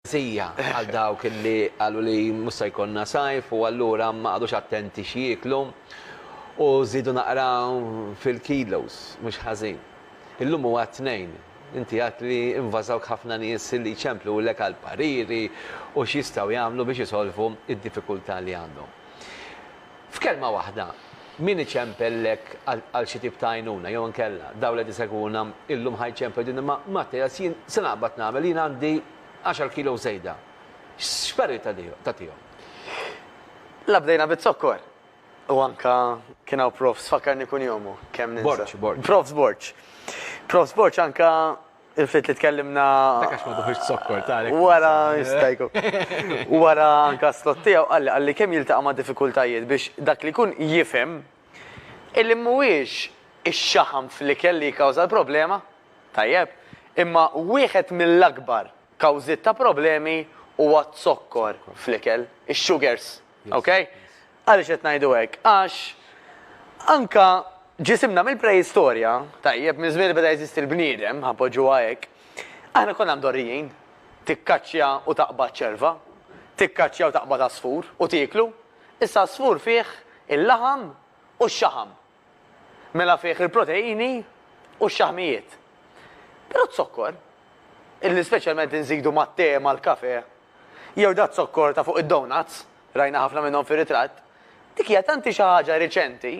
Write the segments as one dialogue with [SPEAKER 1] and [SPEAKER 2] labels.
[SPEAKER 1] Sija għal dawk li għallu li musa jkonna sajf u għallura ma għadux attenti xieklu u zidu naqra fil-kilos, mux ħazin. Illum huwa t-Tnejn. Inti għedt li invażawk ħafna nies li jċemplulek għal pariri u x'jistgħu jagħmlu biex isolvu d-diffikultà li għandhom. F'kelma waħda, min iċempellek għal xi tip ta' għajnuna jew inkella dawn li qed isegwuna illum ħa jċemplu jgħidulna imma Mattias jien se naqbad nagħmel, jien għandi għaxar kilos żejda. X'parir tagħtihom?
[SPEAKER 2] La bdejna biz-zokkor! U anka kien hawn Profs, fakkarni kun jomu, kemm ninsa. Borċ, Borċ. Profs Borċ. Profs Borċ anka il-fit li tkellimna. Takax ma duħiġ
[SPEAKER 1] sokkor, ta' Wara, jistajku.
[SPEAKER 2] Wara anka slot tiegħu qalli qalli kemm jiltaqa' ma' diffikultajiet biex dak li kun jifhem illi mhuwiex ix-xaħam fl-ikel li jikkawża l-problema, tajjeb, imma wieħed mill-akbar kawżiet ta' problemi huwa z-zokkor fl-ikel, ix-sugars. Okej? Għaliex qed ngħidu hekk? Għax anke ġisimna mill-preistorja, tajjeb, minn żmien li beda jeżisti l-bniedem, ħa npoġġuha hekk, aħna konna mdorrijin. Tikkaċċja u taqbad ċerva, tikkaċċja u taqbad għasfur u tieklu. Issa għasfur fih il-laħam u x-xaħam. mela fih il-proteini u x-xaħmijiet. Però z-zokkor, illi speċjalment inżidu mat-te, mal-kafè, jew daz-zokkor ta' fuq id-donuts, rajna ħafna minnhom fir-ritratt, dik hija tanti xi ħaġa riċenti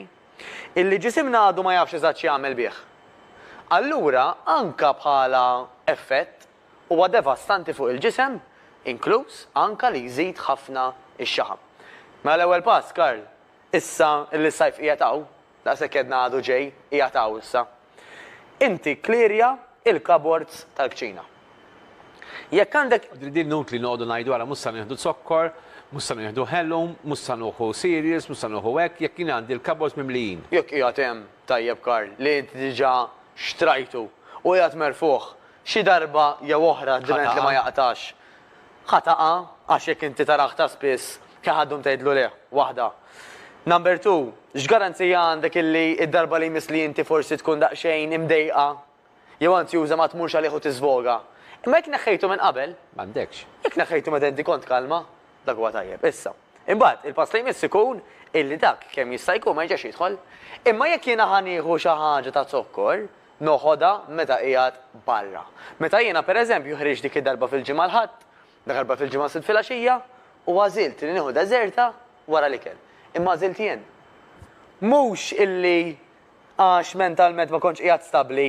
[SPEAKER 2] illi ġisimna għadu ma jafx eżatt x'jagħmel bih. Allura anka bħala effett huwa devastanti fuq il-ġisem, inkluż anka li jżid ħafna x-xaħam. Mela l-ewwel pass, Karl, Issa li s-sajf qiegħed hawn, daqshekk għedna għadu ġej, qiegħed hawn issa, inti kklirja l-cupboards tal-kċina. Jekk għandek. Din inutli noqogħdu
[SPEAKER 1] ngħidu ara mhux se nieħdu zokkor, mhux se nieħdu ħelum, mhux se nuħu cereals, mhux se nuħu hekk, jekk jien għandi l-cupboards mimlijin. Jekk qiegħed hemm,
[SPEAKER 2] tajjeb Karl, li inti diġà xtrajtu u qiegħed merfugħ, xi darba jew oħra d-diment li ma jaqtax, Ħa taqgħa għax jekk inti tara aktar spiss kien ħa ddum tgħidlu leh, waħda. Number two, x'garanzija għandek illi d-darba li jmiss li inti forsi tkun daqsxejn imdejqa jew anzjuża ma tmurx għalih u tiżvoga? Imma jekk neħħejtu minn qabel. M'għandekx. Jekk
[SPEAKER 1] neħħejtu meta inti
[SPEAKER 2] kont kalma, dak huwa tajjeb. Issa. Imbagħad, il-pass li jmiss ikun illi dak kemm jista' jkun ma jerġax jidħol. Imma jekk jiena ħa nieħu xi ħaġa ta' zokkor, noħodha meta qiegħed barra. Meta jiena, per eżempju, ħriġt dik id-darba fil-Ġimgħa l-Ħadd, dakarba fil-Ġimgħa s-Sibt filgħaxija, u għażilt li nieħu deżerta wara l-ikel. Imma għażilt jien. Mhux illi għax mentalment ma kontx qiegħed stabbli,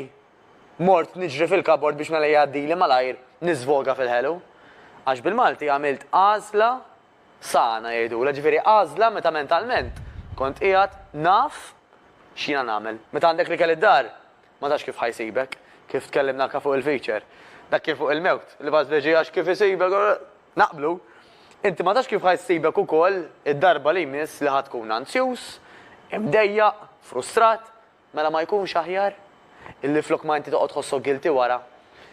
[SPEAKER 2] mort niġri fil-kabord biex mela jgħaddili malajr niżvoga fil-ħelu. Għax bil-Malti għamilt għażla Sana, jgħidulha, ġifieri għażla meta mentalment kont qiegħed naf x'jiena nagħmel. Meta għandek l-ikel id-dar, ma tafx kif ħa jsibek, kif tkellimna anke fuq il-feature. Dak kien fuq il-mewt, l-ibgħat fl-irġiegħ għax kif isibek, naqblu. Inti ma tafx kif ħa jsibek ukoll id-darba li jmiss li ħa tkun anzjuż, imdejjaq, frustrat, Mela ma jkunx aħjar? Illi flok ma inti toqgħod tħossok guilty wara.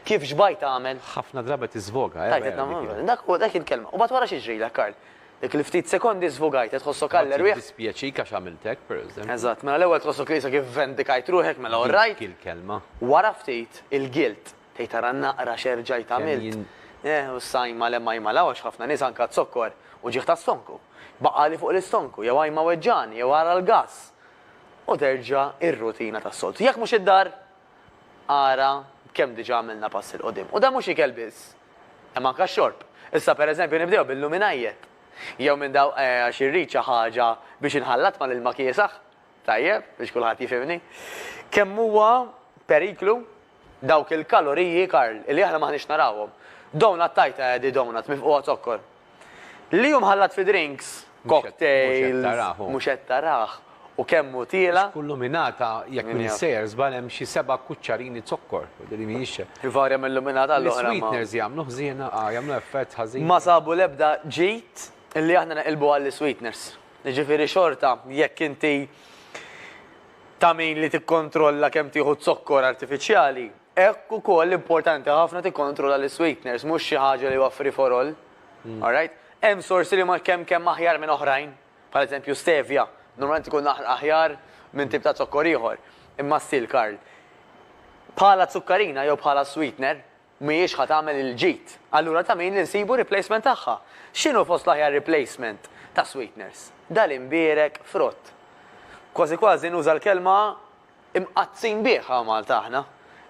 [SPEAKER 2] Kif xbajt tagħmel? Ħafna drabi qed tiżvoga,
[SPEAKER 1] eh? Tajt qed Dak huwa, dak
[SPEAKER 2] hi l-kelma. U mbagħad wara xi jiġrilek, Karl? Dik il-ftit sekondi żvogajt, qed tħossok għall erwieħ. Mbagħad jiddispjaċik għax għamilt hekk,
[SPEAKER 1] pereżempju. Eżatt, mela l-ewwel tħossok li
[SPEAKER 2] issa kif vendikajt ruħek, mela all right. Dik hi l-kelma. Wara
[SPEAKER 1] ftit,
[SPEAKER 2] il-guilt. Tgħid ara naqra x'erġajt għamilt. Eh, u s-sajma le majma l għax ħafna nies anke zokkor u ġieħ tas-stonku. Baqali fuq l-istonku, jew għajma weġġani, jew ara l-gass. u terġa' r-rutina tas-soltu. Jekk mhux id-dar, ara b'kemm diġà għamilna pass 'il quddiem. U dan mhux ikel biss, hemm anke x-xorb. Issa pereżempju nibdew bil-luminajjet. Jew minn daw għax irrid xi ħaġa biex inħallat mal-ilma kiesaħ, tajjeb, biex kulħadd jifhimni. Kemm huwa periklu dawk il-kaloriji, Karl, li aħna m'aħniex narawhom. Donut tajt għadi, donut mifqugħa zokkor. Li hu mħallat fi drinks, cocktails, mhux qed tarah, u kemm hu tiela'. Kull luminata,
[SPEAKER 1] jekk m'iniex sejjer żball, hemm xi seba' kuċċarini zokkor. Ivarja minn luminata
[SPEAKER 2] għal oħra. Is-sweeteners jagħmlu ħżiena,
[SPEAKER 1] jagħmlu effett ħażin. Ma sabu l-ebda
[SPEAKER 2] ġid li aħna neqilbu għall-isweeteners. Jiġifieri xorta jekk inti ta' min li tikkontrolla kemm tieħu zokkor artifiċjali, Hekk ukoll importanti ħafna tikkontrolla l-isweeteners, mhux xi ħaġa li huwa free for all. Alright? Hemm sorsi li huma kemm kemm aħjar minn oħrajn, bħal eżempju stevia, normalment ikun aħjar minn tip ta' zokkor ieħor. Imma still, Karl, bħala zukkarina jew bħala sweetener, mhijiex ħa tagħmel il-ġid. Allura ta' min li nsibu replacement tagħha? X'inhu fost l-aħjar replacement ta' sweeteners? Dal-imbierek frott. Kważi kważi nuża l-kelma Imqaddsin bih hawn Malta aħna,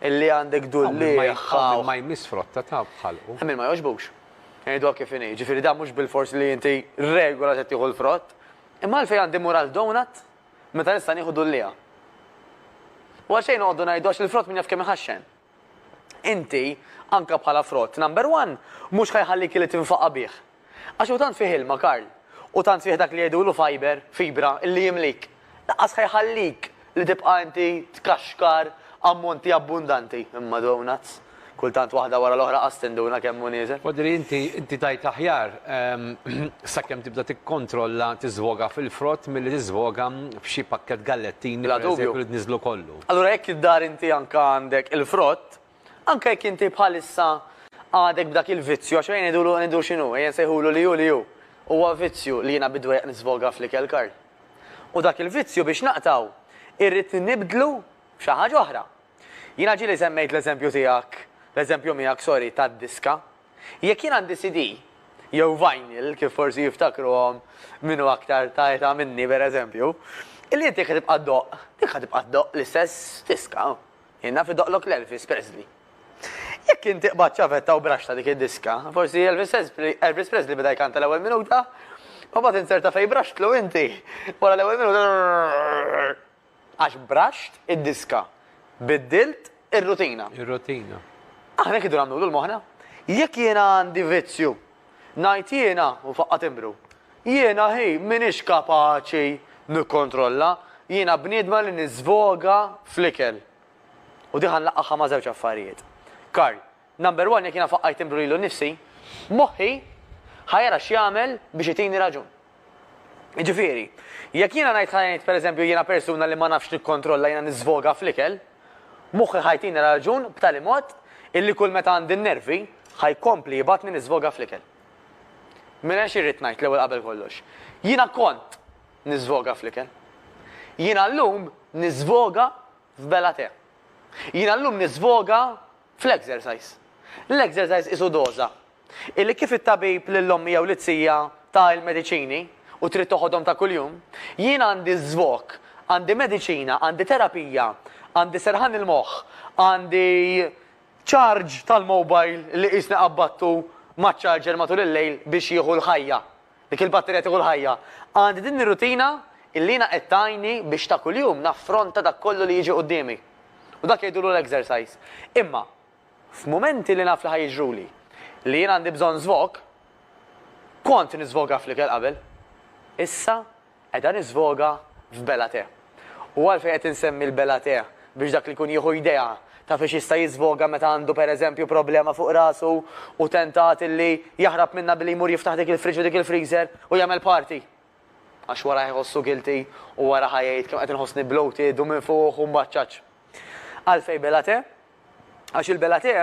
[SPEAKER 2] illi għandek dullieħ. Hawn min ma jmiss frotta
[SPEAKER 1] ta' b'ħalqu. Hemm min ma jogħġbux.
[SPEAKER 2] Ngħiduha kif inhi, jiġifieri dan mhux bilfors li inti regola se tieħu l-frott. Imma għalfejn għandi mmur għal donut meta nista' nieħu dullieha? U għalxejn noqogħdu ngħidu għax il-frott min jaf kemm iħaxxen. Inti, anke bħala frott number one, mhux ħa jħallik illi tinfaqa' bih. Għax hu tant fih ilma, Karl, u tant fih dak li jgħidulu fiber, fibra, illi jimlik. Lanqas ħa jħallik li tibqa' inti tkaxkar ammonti abbundanti. Imma donuts! Kultant waħda wara l-oħra qas tinduna kemm hu nieżel. Quadri, inti, inti
[SPEAKER 1] tgħid aħjar, sakemm tibda tikkontrolla tiżvoga fil-frott milli tiżvoga f'xi pakkett gallettini, pereżempju, li tniżżlu kollu. Allura jekk id-dar inti
[SPEAKER 2] anke għandek il-frott, anke jekk inti bħalissa għadek b'dak il-vizzju, għax ejja ngħidulu, ngħidu x'inhu, ejja nsejħulu li hu li hu, huwa vizzju li jiena bid-dwejjaq nisfoga fl-ikel, Karl. U dak il-vizzju biex naqtgħu irrid nibdlu b'xi ħaġa oħra. Jiena ġieli semmejt l-eżempju tiegħek, l-eżempju miegħek, sorry, tad-diska, Jekk jien għandi CD, jew vinyl, kif forsi jiftakruhom min hu aktar ta' età minni pereżempju, illi inti jekk ħa tibqa' ddoqq, dik ħa tibqa' ddoqq l-istess diska. Jien naf idoqqlok l-Elvis Presley. Jekk inti qbadt ċavetta u braxta dik id-diska, forsi Elvis Presley beda jkanta l-ewwel minuta, u mbagħad insert ta' fejn braxtlu inti, wara l-ewwel minuta. Għax braxt id-diska. Biddilt ir-rutina. Ir-rutina.
[SPEAKER 1] Aħna hekk idu
[SPEAKER 2] nagħmlu lil moħħna. Jekk jiena għandi vizzju, ngħid jiena, u faqqa' timbru. Jiena hi m'iniex kapaċi nikkontrolla, jiena bniedma li niżvoga fl-ikel. U din ħa nlaqqagħha ma' żewġ affarijiet. Karl, Number one, jekk jiena faqqajt inbru lilu nnifsi, moħħi ħa jara x'jagħmel biex itini raġun. Jiġifieri, jekk jiena ngħid ħa ngħid pereżempju jiena persuna li ma nafx nikkontrolla jiena niżvoga fl-ikel, moħħi ħa jtini raġun b'tali mod illi kull meta għandi n-nervi ħa jkompli jibgħatni niżvoga fl-ikel. Mela xi rrid ngħid l-ewwel qabel kollox? Jiena kont niżvoga fl-ikel. Jiena llum niżvoga f'bela te. Jiena llum niżvoga Fl-exercise. L-exercise qisu doża. Illi kif it-tabib lill-ommi jew lit-tija ta il-mediċini u trid toħodhom ta' kuljum, jien għandi żvok, għandi mediċina, għandi terapija, għandi serħan il-moħħ, għandi charge tal-mobile li qisni qabadtu maċ-charger matul il-lejl biex jieħu l-ħajja Dik il-batterija tieħu l-ħajja. Għandi din ir-rutina illi jiena qed tgħinni biex ta' kuljum naffronta dak kollu li jiġi quddiemi. U dak jgħidulu l-exercise. Imma, f'mumenti li naf li ħa jiġruli li jien għandi bżonn żvog, kont niżvoga fl-ikel qabel. Issa, Qiegħda niżvoga f'Bela Te. U għalfejn qed insemmi l-Bela Te? Biex dak li jkun jieħu idea ta' fiex jista' jiżvoga meta għandu pereżempju problema fuq rasu u tentat li jaħrab minnha billi jmur jiftaħ dik il-fridge u dik il-freezer u jagħmel party. Għax wara ħajħossu guilty u wara ħajgħid kemm qed inħossni bloated u minfuħ u mbaċċaċ. Għalfejn Bela Te? Għax il-Bellaté,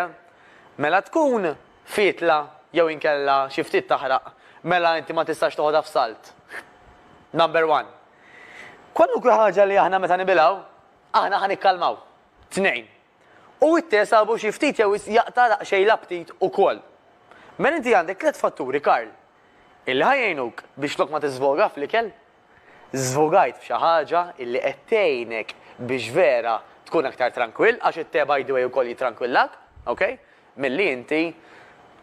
[SPEAKER 2] mela tkun fietla jew inkella xi ftit taħraq, mela inti ma tistax toħodha f'salt. Number one. Kwalunkwe ħaġa li aħna meta nibilgħu, aħna ħa nikkalmaw. Tnejn. U t-te sabu xi ftit jew wisq jaqta' daqsxejn l-aptit ukoll. Mela inti għandek tliet fatturi, Karl, illi ħa jgħinuk biex flok ma tiżvoga fl-ikel, Żvugajt f'xi ħaġa illi qed tgħinek biex vera tkun aktar trankwill, għax it-te by the way ukoll jitrankwillak, ok, milli inti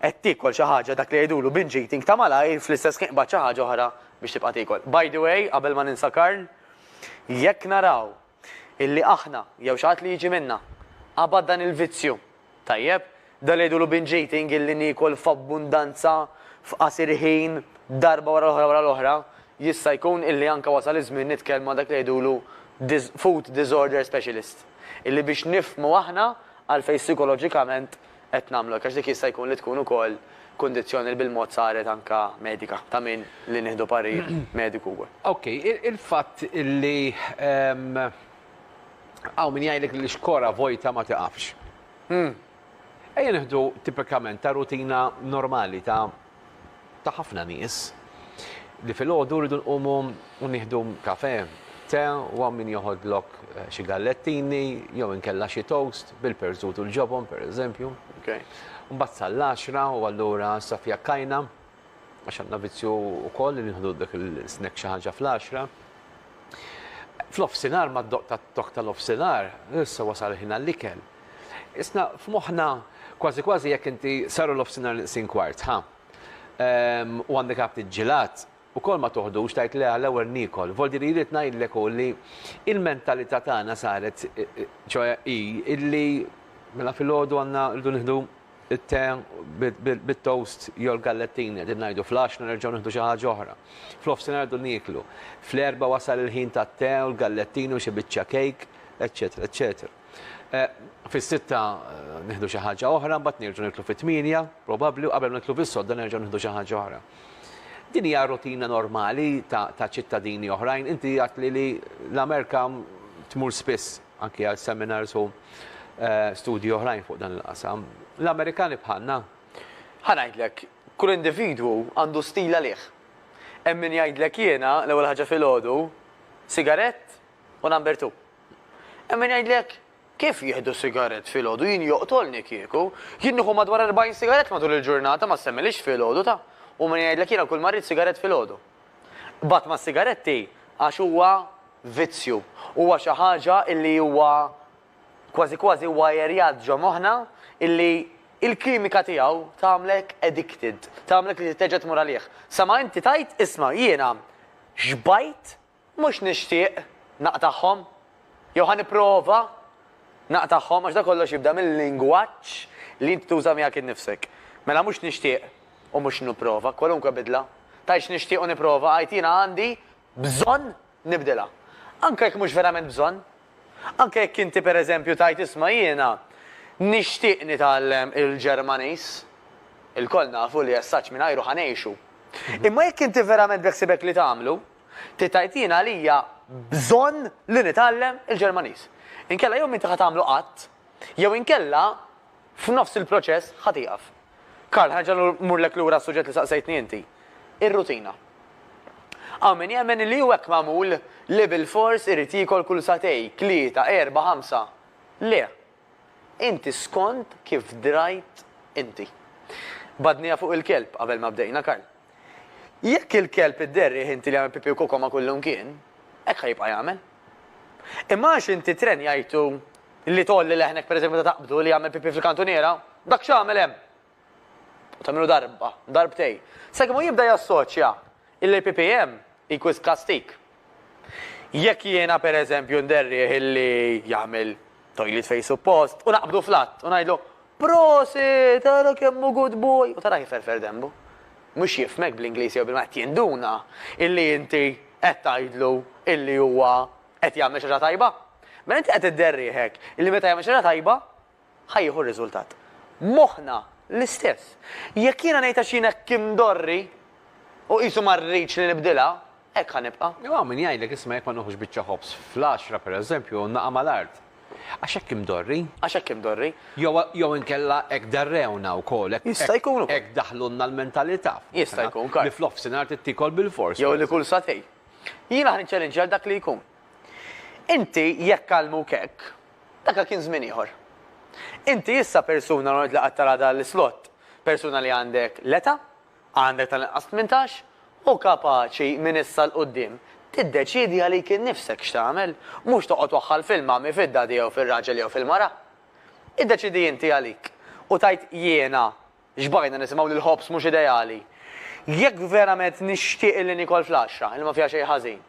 [SPEAKER 2] qed tiekol xi ħaġa dak li jgħidulu binge eating ta' malajr fl-istess ħin qbad xi ħaġa oħra biex tibqa' tiekol. By the way, qabel ma ninsa Karl, jekk naraw illi aħna, jew xi ħadd li jiġi minna, qabad dan il-vizzju. Tajjeb? Dan li jgħidulu binge eating illi niekol f'abbundanza f'qasir ħin darba wara l-oħra wara l-oħra, jista' jkun illi anke wasal iż-żmien nitkellmu ma' dak li jgħidulu food disorder specialist. Illi biex nifhmu aħna għalfejn sikoloġikament, qed nagħmlu hekk għax dik jista' jkun li tkun ukoll kundizzjoni li bil-mod saret anke medika ta' min li nieħdu parir mediku wkoll. Ok, il-fatt
[SPEAKER 1] li hawn min jgħidlek li xkora vojta ma tiqafx. Ejja nieħdu tipikament ta' rutina normali ta' ta' ħafna nies li filgħodu rridu nqumu u nieħdu kafè, te u hawn min joħodlok xi gallettini jew inkella xi toast bil-perżut u l-ġobon pereżempju. Mbagħad sal-għaxra u allura issa fiha kajna għax għandna vizzju wkoll li nieħdu dak il-snack xi ħaġa fl-għaxra. F'nofsinhar mad-doqq tat-tokk tal-nofsinhar issa wasal il-ħin għall-ikel. Isna' f'moħħna kważi kważi jekk inti saru l-ofsinhar neqsin kwart, ħa? Ehm, u għandek għabt il-ġilat, ukoll ma toħdux tgħid le għall-ewwel niekol. Voldi li rrid ngħidlek hu li l-mentalità tagħna saret, ċoe hi illi mela filgħodu għandna rridu nieħdu it-te bit-toast jew l-gallettini qegħdin ngħidu, fl-għaxna nerġgħu nieħdu xi ħaġa oħra. Fl-ofsinhar rridu nieklu. Fl-erbgħa wasal il-ħin tat-te u l-gallettini u xi biċċa kejk, eċċetera, eċċetera. Fis-sitta nieħdu xi ħaġa oħra, mbagħad nerġgħu niklu fit-tmienja, probabbli, u qabel ma niklu fis-sodda nerġgħu nieħdu xi ħaġa oħra. Din hija rutina normali ta' ċittadini oħrajn. Inti għadt li l-Amerika tmur spiss anki għal seminars u eh, studji oħrajn fuq dan il-qasam. L-Amerikani bħalna. Ħanajdlek,
[SPEAKER 2] kull individwu għandu stil għalih. Hemm min jgħidlek jiena l-ewwel ħaġa filgħodu, sigarett u number two. Hemm min jgħidlek, Kif jieħdu sigarett filgħodu, jien joqtolni kieku. Jien nieħu madwar erbgħin sigarett matul il-ġurnata, ma ssemmilhiex filgħodu ta'. U min jgħidlek jiena kull ma rrid sigarett filgħodu. Qbadt mas-sigaretti għax huwa vizzju, huwa xi ħaġa illi huwa kważi kważi wwajerjat ġo moħħna illi il-kimika tiegħu tagħmlek addicted, tagħmlek li trid terġa' tmur għalih. Sa ma inti tgħid, isma' jiena xbajt Mhux nixtieq naqtagħhom, jew ħa nipprova naqtagħhom, għax dan kollox jibda mil-lingwaġġ li int tuża miegħek innifsek. Mela mhux nixtieq u mhux nipprova, kwalunkwe bidla, tgħidx nixtieq u nipprova, għid jiena għandi bżonn nibdilha. Anke jekk mhux verament bżonn. Anke jekk inti pereżempju tgħid isma' jiena nixtieq nitgħallem il-Ġermaniż. Ilkoll nafu li as-saġġ mingħajru ħa ngħixu. Imma jekk inti verament beħsiebek li tagħmlu, Trid tgħid jien għalija bżonn li nitgħallem il-Ġermaniż. Inkella jew m'inti ħa tagħmlu qatt, jew inkella f'nofs il-proċess ħa tieqaf. Karl, ħa nerġa' mmurlek lura għas-suġġett li saqsejtni inti. Ir-rutina. Hawn min jemmen li hu hekk magħmul li bilfors irid jiekol kull sagħtej, tlieta, erbgħa, ħamsa. Le, Inti skond kif drajt inti. Badnija fuq il-kelb qabel ma bdejna Karl. Jekk il-kelb idderrih inti li jagħmel pipì u koko ma' kull imkien, hekk ħa jibqa' jagħmel. Imma għax inti trenjajtu li tgħolli leħnek pereżempju meta taqbdu li jagħmel pipì fil-kantuniera, dak x'għamel hemm? u tagħmilu darba, darbtejn, sakemm hu jibda jassoċja illi l-PPM hi wisq kastig. Jekk jiena pereżempju nderrieh illi jagħmel toilet fejn suppost u naqbdu fl-att u ngħidlu, Prosit, ara kemm hu good boy! u tarah iferfer denbu. Mhux jifhmek bl-Ingliż jew bil-Malti, jinduna illi inti qed tgħidlu illi huwa qed jagħmel xi ħaġa tajba. Mela inti qed idderrieh hekk illi meta jagħmel xi ħaġa tajba, ħa jieħu r-riżultat. Moħħna l-istess. Jekk jiena ngħid għax jien hekk imdorri u qisu ma rridx li nibdilha, hekk ħa nibqa'. Jew hawn min jgħidlek isma'
[SPEAKER 1] jekk ma nieħux biċċa ħobż fl-għaxra, pereżempju, u naqa' mal-art. Għax hekk imdorri. Għax hekk imdorri.
[SPEAKER 2] Jew jew inkella
[SPEAKER 1] hekk darrewna wkoll, hekk Jista' jkun ukoll. hekk
[SPEAKER 2] daħlulna
[SPEAKER 1] l-mentalità f'moħħna. Jista' jkun ukoll. Li
[SPEAKER 2] fl-offsinhar trid
[SPEAKER 1] tiekol bilfors. Jew li kull satej.
[SPEAKER 2] Jiena ħa niċċelinċja lil dak li jkun. Inti jekk għallmuk hekk, Daka kien żmien ieħor. Inti issa persuna l-għonqt li qatt tara dan l-islott, persuna li għandek l-eta', għandek tal-inqas tmintax, u kapaċi minn issa 'l quddiem tiddeċiedi għalik innifsek x'tagħmel, mhux toqgħod waħħal fil-mommy, fid-daddy jew fir-raġel jew fil-mara. Iddeċiedi inti għalik u tgħid jiena, Xbajna nisimgħu li l-ħobż mhux ideali. Jekk verament nixtieq illi niekol flaxxa illi ma fiha xejn ħażin,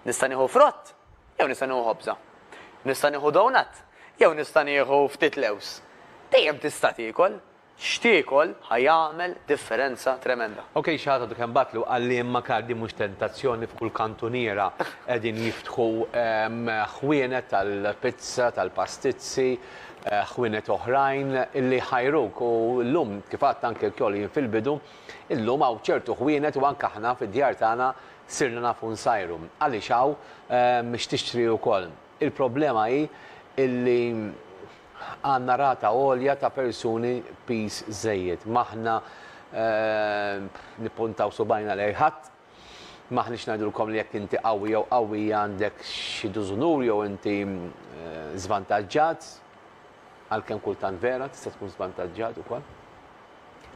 [SPEAKER 2] nista' nieħu frott jew nista' nieħu ħobża? Nista' nieħu donut jew nista' nieħu ftit lewż? Dejjem tista' tiekol. X'tiekol ħa jagħmel differenza tremenda. Ok xi ħadd għadu kemm
[SPEAKER 1] bagħatlu qalli imma kard hi mhux tentazzjoni f'kull kantuniera qegħdin jiftħu ħwienet tal-pizza, tal-pastizzi, ħwienet oħrajn li jħajruk u llum kif għadt anke wkoll jien fil-bidu, illum hawn ċertu ħwienet u anke aħna fid-djar tagħna sirna nafu nsajru. Għaliex hawn x'tixtri wkoll. Il-problema hi illi għandna rata għolja ta' persuni piż żejjed. M'aħna nippuntaw subgħajna lejn ħadd, M'aħniex ngħidulkom li jekk inti qawwi jew qawwija għandek xi dużunur jew inti żvantaġġat, għalkemm kultant vera tista' tkun żvantaġġat ukoll.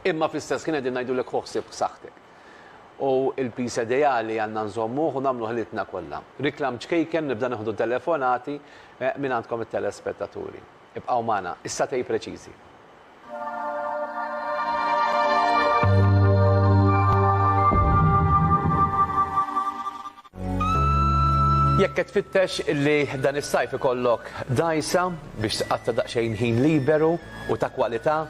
[SPEAKER 1] Imma fl-istess ħin qegħdin ngħidulek ħu ħsieb b'saħħtek. U l-piż ideali għandna nżommuh u nagħmlu ħilitna kollha. Riklam ċkejken nibda nieħdu telefonati mingħandkom it-telespettaturi. Ibqgħu magħna, issa tgħid preċiżi. Jekk qed tfittex li dan is-sajf ikollok dgħajsa biex tqatta' daqsxejn ħin liberu u ta' kwalità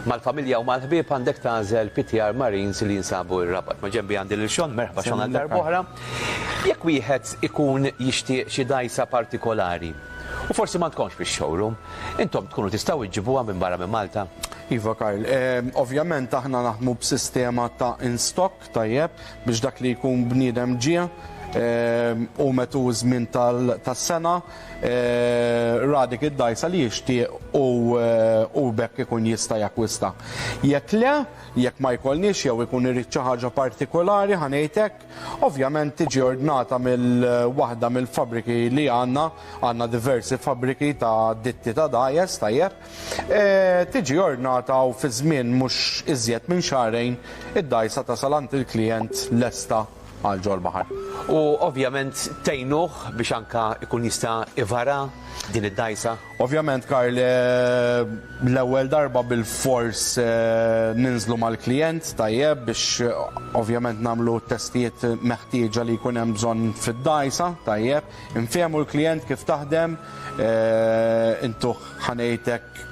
[SPEAKER 1] mal-familja u mal-ħbieb għandek tagħżel PTR Marines li jinsabu r-Rabat. Ma' ġenbi għandi lil Sean, merħba Sean għal darb'oħra. Jekk wieħed ikun jixtieq xi dgħajsa partikolari, U forsi ma tkomx fix-showroom. Intom tkunu tistgħu iġġibuha minn barra minn Malta? Iva Karl,
[SPEAKER 3] ovvjament aħna naħdmu b'sistema ta' in stock tajjeb biex dak li jkun bniedem ġie u metu ż-żmien tas-sena ra dik id-dgħajsa li jixtieq u b'hekk ikun jista' jakkwista. Jekk le, jekk ma jkollniex jew ikun irid xi ħaġa partikolari ħa ngħid hekk, Ovvjament tiġi ordnata mill waħda mill-fabbriki li għandna, għandna diversi fabbriki ta' ditti ta' dajes, tajjeb, e, tiġi ordnata u fi żmien mhux iżjed minn xahrejn id-dgħajsa tasal għand il-klijent lesta għal ġol-baħar. U ovvjament
[SPEAKER 1] tgħinuh biex anke jkun jista' ivara din id-dgħajsa? Ovvjament Karl,
[SPEAKER 3] l-ewwel darba bilfors ninżlu mal-klijent, tajjeb, biex ovvjament nagħmlu t-testijiet meħtieġa li jkun hemm bżonn fid-dgħajsa, tajjeb. Infehmu l-klijent kif taħdem, intuh ħa ngħid hekk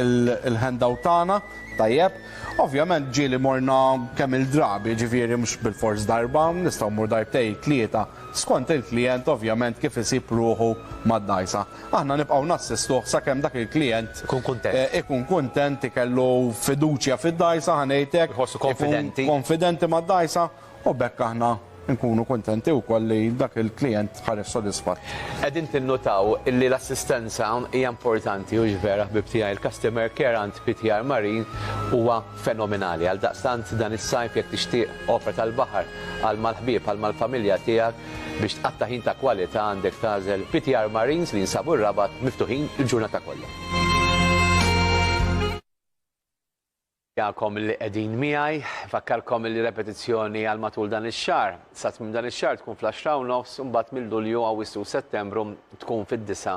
[SPEAKER 3] il-handout tagħna, tajjeb. Ovvjament ġieli morna kemm-il drabi, jiġifieri mhux bilfors darba, nistgħu mmur darbtejn, tlieta. skont il-klijent ovvjament kif isib ruħu mad-dgħajsa. Aħna nibqgħu nassistuh sakemm dak il-klijent Ikun kuntent. ikun kuntent, ikellu fiduċja fid-dgħajsa, ħa ngħid hekk, Iħossu ikun konfidenti. konfidenti mad-dgħajsa u b'hekk aħna nkunu kuntenti wkoll li dak il-klijent ħareġ sodisfatt. Qegħdin tinnutaw
[SPEAKER 1] li l-assistenza hija importanti, hux vera ħbieb tiegħi? Il-customer care għand PTR Marine huwa fenomenali. Għaldaqstant dan is-sajf jekk tixtieq opra tal-baħar għal mal-ħbieb għal mal-familja tiegħek biex tqatta' ħin ta' kwalità għandek tagħżel PTR Marines li jinsabu r-Rabat miftuħin il-ġurnata kollha. Nirringrazzjakom li qegħdin miegħi. Nfakkarkom li repetizzjoni għal matul dan ix-xahar. Sa tmiem dan ix-xahar tkun fl-għaxra u nofs u mbagħad minn Lulju, Awwissu u Settembru tkun fid-disgħa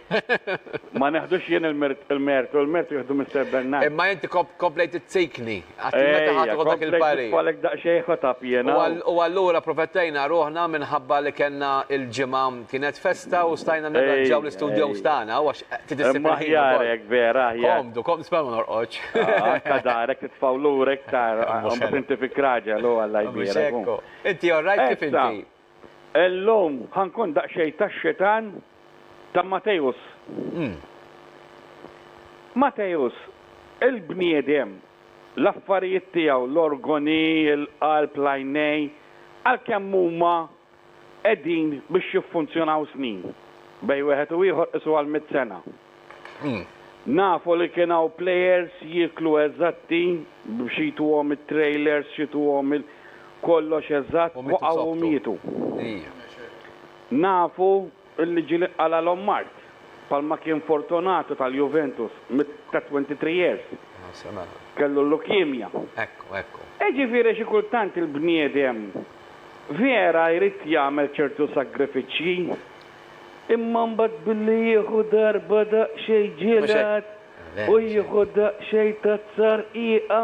[SPEAKER 4] Ma neħdux jien il-mertu, il-mertu jieħdu Mister Bernard. Imma inti komplejt
[SPEAKER 1] izzikni, għax meta ħadd iħu dak il-parir. Falek daqsxejn ħotab
[SPEAKER 4] jiena. U allura
[SPEAKER 1] protettejna ruħna minħabba li kellna il-ġimgħa kienet festa u stajna nirranġaw l-istudios tagħna u għax trid issib il-ħin. Aħjar
[SPEAKER 4] hekk vera, aħjar. Komdu, komdu, sperma ma
[SPEAKER 1] norqodx. Anke darek
[SPEAKER 4] titfgħu lura iktar, inti fik raġel u Alla jbierek. Inti all right
[SPEAKER 1] kif inti? Illum
[SPEAKER 4] ħa nkun daqsxejn tax-xitan ta' Matteus. Matteus, il-bniedem, l-affarijiet tiegħu, l-organi, il-qalb, l-għajnejn, għalkemm huma qegħdin biex jiffunzjonaw snin, bejn wieħed u ieħor qisuha l-mitt sena. Nafu li kien hawn players jieklu eżatti b'xi jtuhom it-trailers xi jtuhom il kollox eżatt waqgħu u mietu. Nafu li ġieli qalalhom mard bħalma kien Fortunato tal-Juventus ta' 23 years kellu l-leukemia.
[SPEAKER 1] Iġifieri xi
[SPEAKER 4] kultant il-bniedem vera jrid jagħmel ċertu sagrifiċċji. Imma mbagħad billi jieħu darba daqsxejn ġielat u jieħu daqsxejn tazzarqiqa.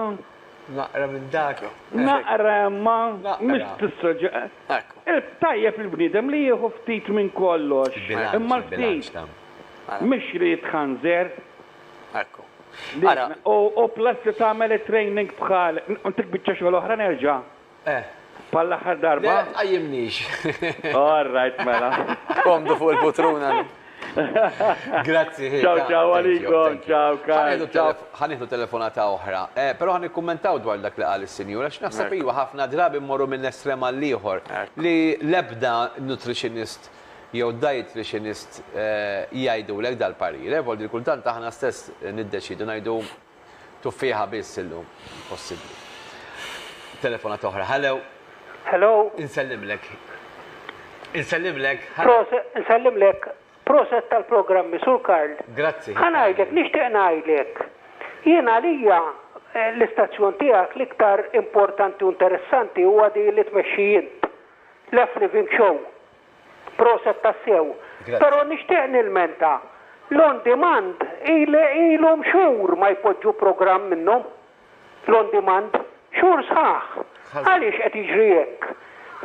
[SPEAKER 4] Naqra
[SPEAKER 1] minn dak. Naqra imma
[SPEAKER 4] mhix tista' ġa. Tajjeb il-bniedem li jieħu ftit minn kollox, imma l-ftit mhix li jitħanżer. Ekku. Ara. U plus li tagħmel it-training bħal dik biċċa xogħol oħra nerġa'. Eh. Bħal l-aħħar darba? Le, tqajjimnix.
[SPEAKER 1] All right,
[SPEAKER 4] mela. Komdu fuq
[SPEAKER 2] il-putruna.
[SPEAKER 1] Grazzi, ħin. Ciao, ciao,
[SPEAKER 4] għalikom, ciao, ciao. Ħaniħdu telefonata
[SPEAKER 1] oħra, eh, pero ħan ikkummentaw dwar dak li qal is-sinjura, x'naħseb iwa ħafna drabi mmorru minn estrem għal ieħor li l-ebda nutritionist jew dietitianist eh, jgħidulek dal-parire, eh, voldi kultant aħna stess niddeċidu ngħidu Tuffieħa biss illum possibbli. Telefonata oħra. Hello. Hello.
[SPEAKER 5] Insellimlek.
[SPEAKER 1] Insellimlek. Proset,
[SPEAKER 5] insellimlek. Proset tal-programmi, Sur Karl. Grazzi. Ħanajdlek,
[SPEAKER 1] nixtieq
[SPEAKER 5] ngħidlek. Jien għalija eh, l-istazzjon tiegħek l-iktar importanti u interessanti huwa di li tmexxi int. Left Living Show. Proset tassew. Grazzi. Pero nixtieq nilmenta. L-on demand ilhom xhur ma jpoġġu programm minnhom. L-on demand. Xhur sħaħ. Għaliex qed jiġri hekk?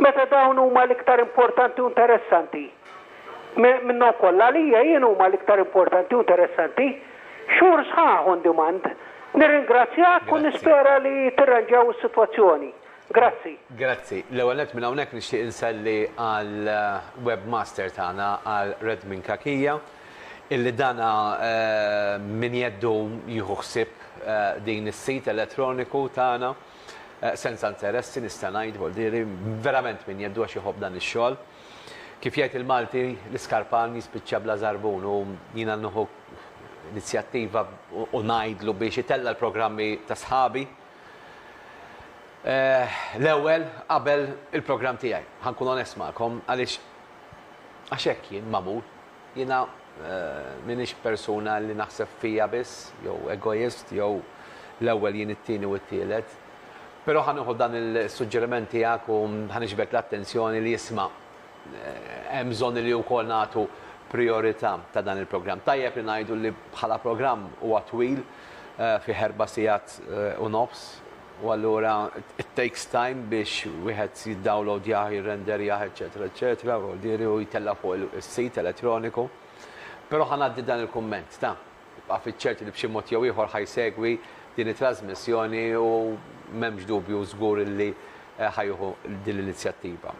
[SPEAKER 5] Meta dawn huma l-iktar importanti u interessanti. Minnhom kollha għalija jien huma l-iktar importanti u interessanti. Xhur sħaħ on demand. Nirringrazzjak u nispera li tirranġaw is-sitwazzjoni. Grazzi. Grazzi. L-ewwel
[SPEAKER 1] nett minn hawnhekk nixtieq inselli għal webmaster tagħna għal Redmin Cachia illi dan minn jeddu jieħu ħsieb din is-sit elettroniku tagħna senza interessi nista' ngħid voldieri verament minn jeddu għax iħobb dan ix-xogħol. Kif jgħid il-Malti l-iskarpan jispiċċa bla żarbun u jiena nieħu inizjattiva u ngħidlu biex itella' l-programmi ta' sħabi L-ewwel, qabel il-programm tiegħi, ħa nkun onest magħkom, għaliex għax hekk jien magħmul. Jiena m'iniex persuna li naħseb fija biss, jew egoist, jew l-ewwel jien it-tieni u t-tielet. Però ħa nieħu dan is-suġġeriment tiegħek u ħa niġbed l-attenzjoni li isma' Hemm bżonn li wkoll nagħtu prijorità ta' dan il-programm. Tajjeb li ngħidu li bħala programm huwa twil, fih erba' sigħat u nofs, u allura it takes time biex wieħed jiddawlowdjah, jirrenderjah, eċċetera, eċċetera, u jiġifieri u jtellgħu fuq is-sit elettroniku. Però ħa ngħaddi dan il-kumment ta'. Ibqa' fiċ-ċert li b'xi mod jew ieħor ħa jsegwi din it-trażmissjoni u m'hemmx dubju żgur li ħa jieħu din l-inizjattiva.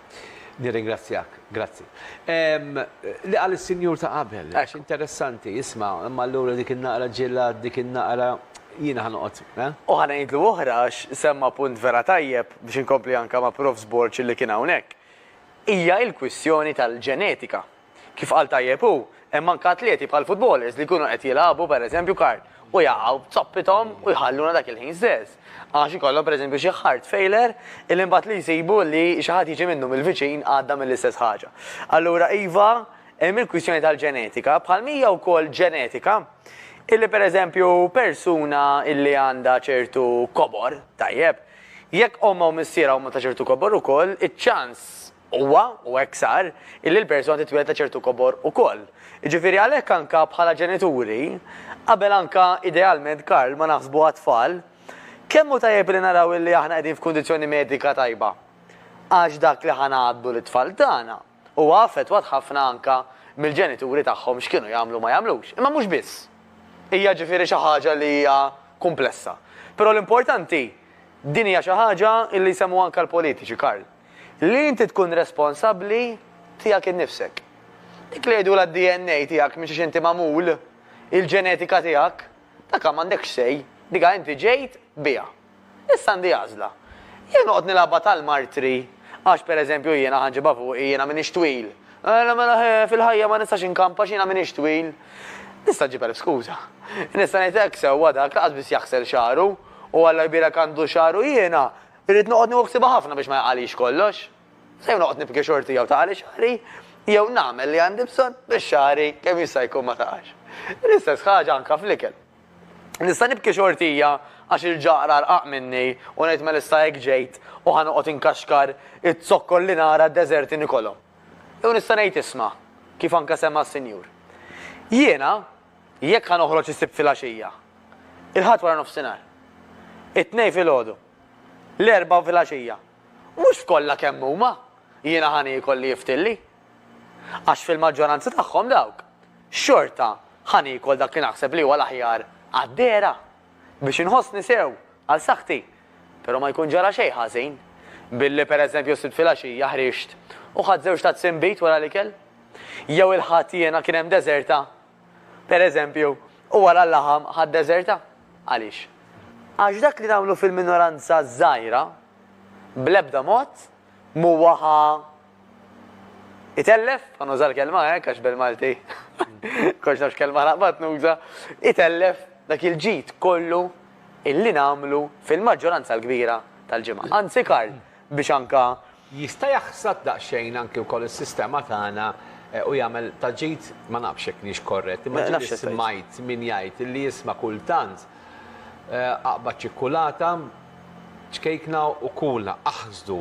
[SPEAKER 1] Nirringrazzjak. Grazzi. Ehm, li qal is-sinjur ta' qabel, għax interessanti, isma', imma allura dik in-naqra ġilla, dik in-naqra jiena ħanoqgħod, eh? U ħa ngħidlu
[SPEAKER 2] oħra għax semma punt vera tajjeb biex inkompli anke ma' Prof. Borg li kien hawnhekk. Hija l-kwistjoni tal-ġenetika. Kif qal tajjeb hu, hemm anke atleti bħal futbolers li jkunu qed jilagħbu pereżempju kart u jaqgħu b'zoppithom u jħalluna dak il-ħin stess għax ikollhom pereżempju xi heart failure illi imbagħad li jsibu li xi ħadd jiġi minnhom il-viċin għadda mill-istess ħaġa. Allura iva, hemm il-kwistjoni tal-ġenetika bħalma hija wkoll ġenetika illi pereżempju persuna illi għandha ċertu kobor, tajjeb, jekk ommha u missierha huma ta' ċertu kobor ukoll, iċ-ċans Huwa, u hekk sar, illi l-persuna titwieled ta' ċertu kobor ukoll. Jiġifieri għalhekk anka bħala ġenituri, qabel anka idealment Karl ma naħsbu għat-tfal, kemm hu tajjeb illi naraw illi aħna qegħdin f'kundizzjoni medika tajba. Għax dak li ħa ngħaddlu lit-tfal tagħna huwa affettwat ħafna anka mill-ġenituri tagħhom x'kienu jagħmlu u ma jagħmlux. Imma mhux biss. Hija ġifieri xi ħaġa li hija kumplessa. Però l-importanti, din hija xi ħaġa illi jsemmu anka l-politiċi, Karl. Li inti tkun responsabbli tiegħek innifsek. Dik li jgħidulha d-DNA tiegħek minn xiex inti magħmul, il-ġenetika tiegħek, dakha m'għandekx say, dikha inti ġejt biha. Issa għandi għażla. Jew noqgħod nilgħabha tal-martri, għax per eżempju jiena ħa nġibha fuqi, jiena m'iniex twil. Mela mela ħe, fil-ħajja ma nistax inkamp għax jiena m'iniex twil. Nista' nġib elf skuża. Nista' ngħid hekk sewwa dak lanqas biss jaħsel xagħru u Alla jbierek għandu xagħru jiena, Irrid noqgħod nieħu ħsiebha ħafna biex ma jaqagħlix kollox. Se jew noqgħod nibki xorti jew taqagħli xagħri, jew nagħmel li għandi bżonn biex xagħri kemm jista' jkun ma taqax. L-istess ħaġa anke fl-ikel. Nista' nibki xortija għax il-ġaqra rqaq minni u ngħid mela issa hekk ġejt u ħa noqgħod inkaxkar iz-zokkor li nara d-deżerti nikolhom. Jew nista' ngħid isma', kif anke semma s-Sinjur. Jiena, Jekk ħa noħroġ is-Sibt filgħaxija, il-Ħadd waranofsinhar, it-Tnejn filgħodu, l-Erbgħa filgħaxija, mhux f'kollha kemm huma jiena ħa niekol li jiftilli. Għax fil-maġġoranza tagħhom dawk, xorta ħa niekol dak li naħseb li huwa l-aħjar għad-dehra, biex inħossni sew għal saħħti Però ma jkun ġara xejn ħażin billi, per eżempju, s-Sibt filgħaxija ħriġt u ħadt żewġ tazzi nbid wara l-ikel. Jew il-Ħadd jiena kien hemm deżerta, per eżempju, u wara l-laħam ħadt deżerta. Għaliex? Għax dak li nagħmlu fil-minoranza żgħira bl-ebda mod m'huwa ħa Itellef, ħa nuża l-kelma hekk għax bil-Malti kollox nafx kelma naqbad nuża, itellef dak il-ġid kollu illi nagħmlu fil-maġġoranza l-kbira tal-ġimgħa. Anzi Karl, biex anke Jista' jaħsad
[SPEAKER 1] daqsxejn anke wkoll is-sistema tagħna u jagħmel ta' ġid, ma nafx jekk niex korrett, imma ġieli smajt min jgħid li jisma' kultant aqbad ċikkulata, Ċkejkna u kula aħsdu